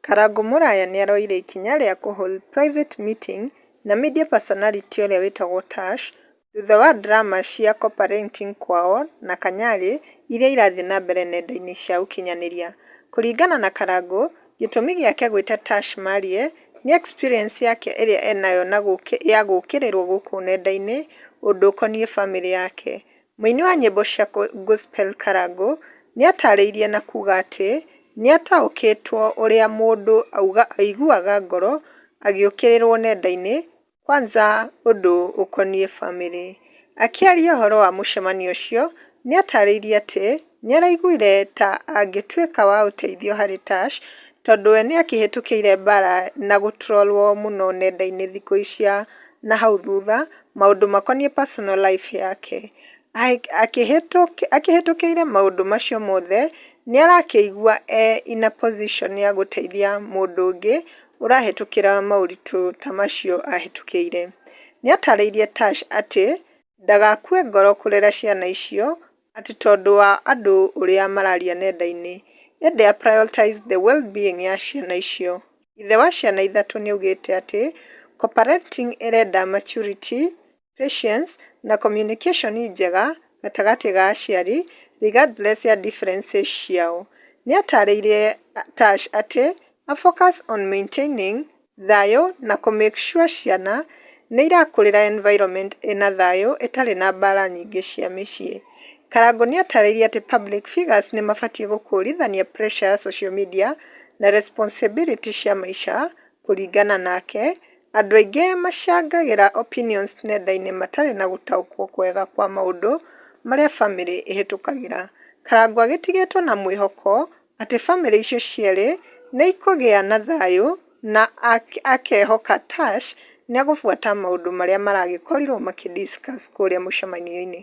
Karangũ Mũraya nĩaroire ikinya rĩa kũ hold private meeting na media personality ũrĩa wĩtagwo Tash thutha wa drama cia Copa Renting kwao na Kanyari iria irathiĩ na mbere nenda-inĩ cia ũkinyanĩria. Kũringana na Karangũ, gĩtũmi gĩake gwĩta Tash Marie nĩ experience yake ĩrĩa enayo ya gũkĩrĩrwo gũkũ nenda-inĩ ũndũ ũkoniĩ famĩlĩ yake. Mũini wa nyĩmbo cia gospel Karangũ nĩatarĩirie na kuga atĩ nĩataũkĩtwo ũrĩa mũndũ auga aiguaga ngoro agĩũkĩrĩrwo nenda-inĩ kwanza ũndũ ũkoniĩ bamĩrĩ. Akĩaria ũhoro wa mũcemanio ũcio nĩatarĩirie atĩ Nĩ araiguire ta angĩtuĩka wa ũteithio harĩ Tash tondũ we nĩ akĩhĩtũkĩire mbaara na gũtrollwo mũno nenda-inĩ thikũ cia na hau thutha maũndũ makoniĩ personal life yake. Akĩhĩtũkĩire maũndũ macio mothe, nĩ arakĩigua e in a position ya gũteithia mũndũ ũngĩ ũrahĩtũkĩra maũritũ ta macio ahĩtũkĩire. Nĩ atarĩirie Tash atĩ ndagakue ngoro kũrera ciana icio atĩ tondũ wa andũ ũrĩa mararia nenda-inĩ, yet they are prioritize the well being ya ciana icio. Ithe wa ciana ithatũ nĩaugĩte atĩ co-parenting ĩrenda maturity, patience na communication njega gatagatĩ ga aciari regardless ya differences ciao. Nĩatarĩirie Tash atĩ a focus on maintaining thayũ na kũ make sure ciana nĩirakũrĩra environment ĩna thayũ ĩtarĩ na mbara nyingĩ cia mĩciĩ. Karangũ nĩatarĩirie atĩ public figures nĩmabatiĩ gũkũrithania pressure ya social media na responsibility cia maica kũringana nake, andũ aingĩ macangagĩra opinions nenda-inĩ matarĩ na gũtaũkwo kwega kwa maũndũ marĩa famĩlĩ ĩhĩtũkagĩra. Karangũ agĩtigĩtwo na mwĩhoko atĩ famĩlĩ icio cierĩ nĩ ikũgĩa na thayũ na akehoka Tash nĩ egũbuata maũndũ marĩa maragĩkorirũo makĩ discuss kũrĩa mũcemanio-inĩ.